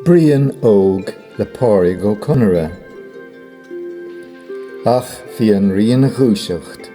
Brian Óg le Pádraig Ó Conaire. Ach bhí an Rí ina dhúiseacht.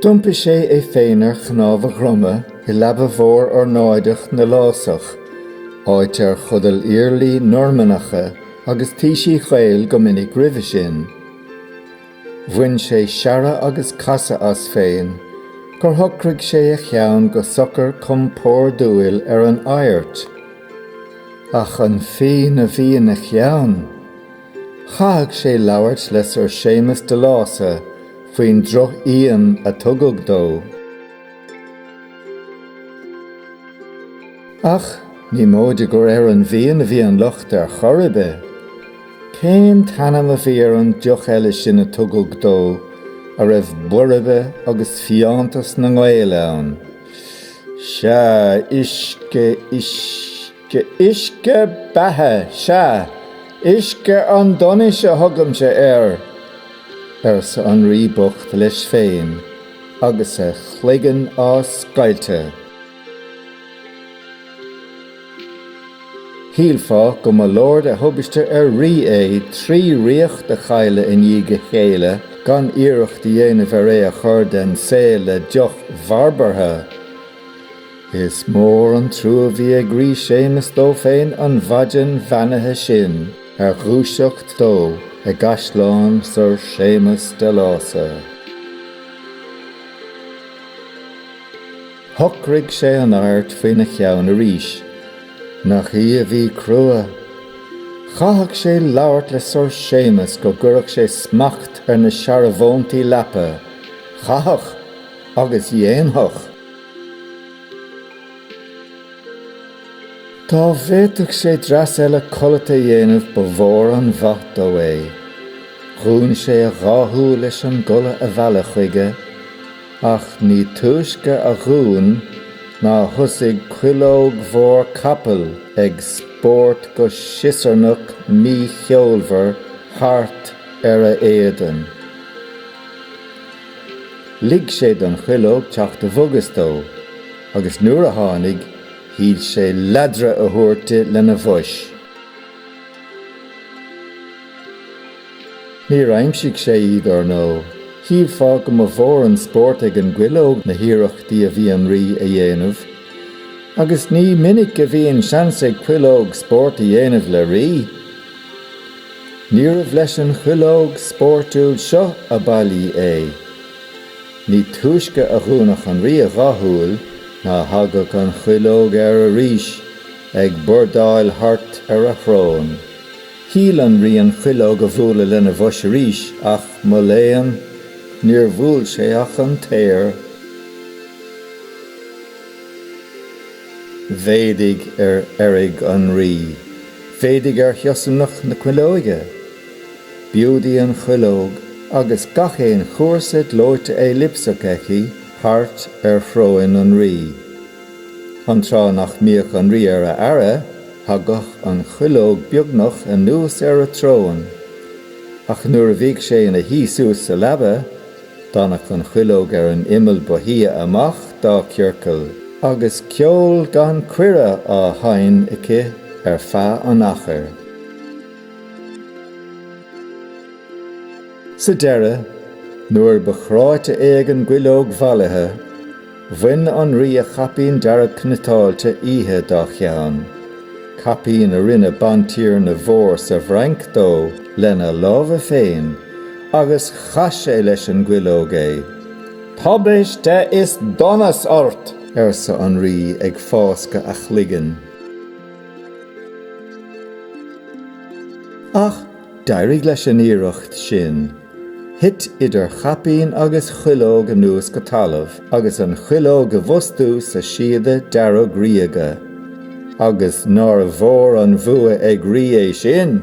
D'iompaigh sé é féin ar chnámh a dhroma i leaba mhór ornáideach na Lásach, áit ar chodail iarlaí Normannacha agus taoisigh Ghael go minic roimhe sin. Bhain sé searradh agus casadh as féin gur shocraigh sé a cheann go socair compordúil ar an adhairt. Ach an fíon a bhí ina cheann? Chaithfeadh sé labhairt le Sir Séamas de Lása faoin drochfhíon a tugadh dó. Ach ní móide gur ar an bhfíon a bhí an locht ar chor ar bith. Cén t-ainm a bhí ar an deoch eile sin a tugadh dó a raibh boirbe agus fiántas na nGael ann? Sea, uisce, uisce, uisce beatha, sea, uisce an donais a thugaimse air! arsa an Rí bocht leis féin agus a chloigeann á scoilteadh. Shílfeá go mba leor de thubaiste ar rí é trí ríocht a chailleadh i ndiaidh a chéile gan iarracht a dhéanamh ar é a chur den saol le deoch bharbartha. Is mór an trua a bhí ag Rí Séamus dó féin an mhaidean bheannaithe sin ar dhúiseacht dó i gcaisleán Sir Séamus de Lása. Shocraigh sé an adhairt faoina cheann arís. Nach í a bhí crua! Chaithfeadh sé labhairt le Sir Séamas go gcuirfeadh sé smacht ar na searbhóntaí leapa. Chaithfeadh! Agus dhéanfadh! Dá bhféadfadh sé dreas eile codlata a dhéanamh ba mhór an mhaith dó é. Dhún sé a dhá shúil leis an gcodladh a mhealladh chuige. Ach ní túisce a dhún ná thosaigh cuileog mhór capaill ag spórt go siosarnach mícheolmhar thart ar a éadan. Lig sé don chuileog teacht i bhfogas dó, agus nuair a tháinig, shíl sé leadradh a thabhairt di lena bhois. Níor aimsigh sé iad, ar ndóigh. Shílfeá go mba mhór an spórt ag an gcuileog na hiarrachtaí a bhí an Rí a dhéanamh. Agus ní minic a bhíonn seans ag cuileog spórt a dhéanamh le rí. Níorbh leis an chuileog spóirtiúil seo ab fhaillí é. Ní túisce a dhúnfadh an rí a dhá shúil ná thagadh an chuileog air arís ag bordáil thart ar a shrón. Shíl an Rí an chuileog a bhualadh lena bhois arís, ach, mo léan, níor bhuail sé ach an t-aer. Mhéadaigh ar fheirg an Rí. Mhéadaigh ar shiosarnach na cuileoige. B'iúd í an chuileog, agus gach aon chúrsa gleoite éilipseach aici thart ar shróin an Rí. An tráth nach mbíodh an rí ar a aire, thagadh an chuileog beagnach anuas ar an tsrón. Ach nuair a bhíodh sé ina shuí suas sa leaba, d'fhanadh an chuileog ar an imeall ba shia amach dá ciorcal, agus ceol gan cuireadh á sheinn aici ar feadh an achair. Sa deireadh, nuair ba chráite é ag an gcuileog mhallaithe, Bhain an rí a chaipín dearg cniotáilte oíche dá cheann, caipín a rinne bantiarna mhór sa bhFrainc dó lena lámha féin, agus chaith sé leis an gcuileog é. Tubaiste is donas ort! arsa an rí ag fáscadh a chloiginn. Ach D'éirigh leis an iarracht sin. Thit idir chaipín agus chuileog anuas go talamh agus an chuileog i bhfostú sa síoda dearg ríoga. Agus nár mhór an bhua ag rí é sin!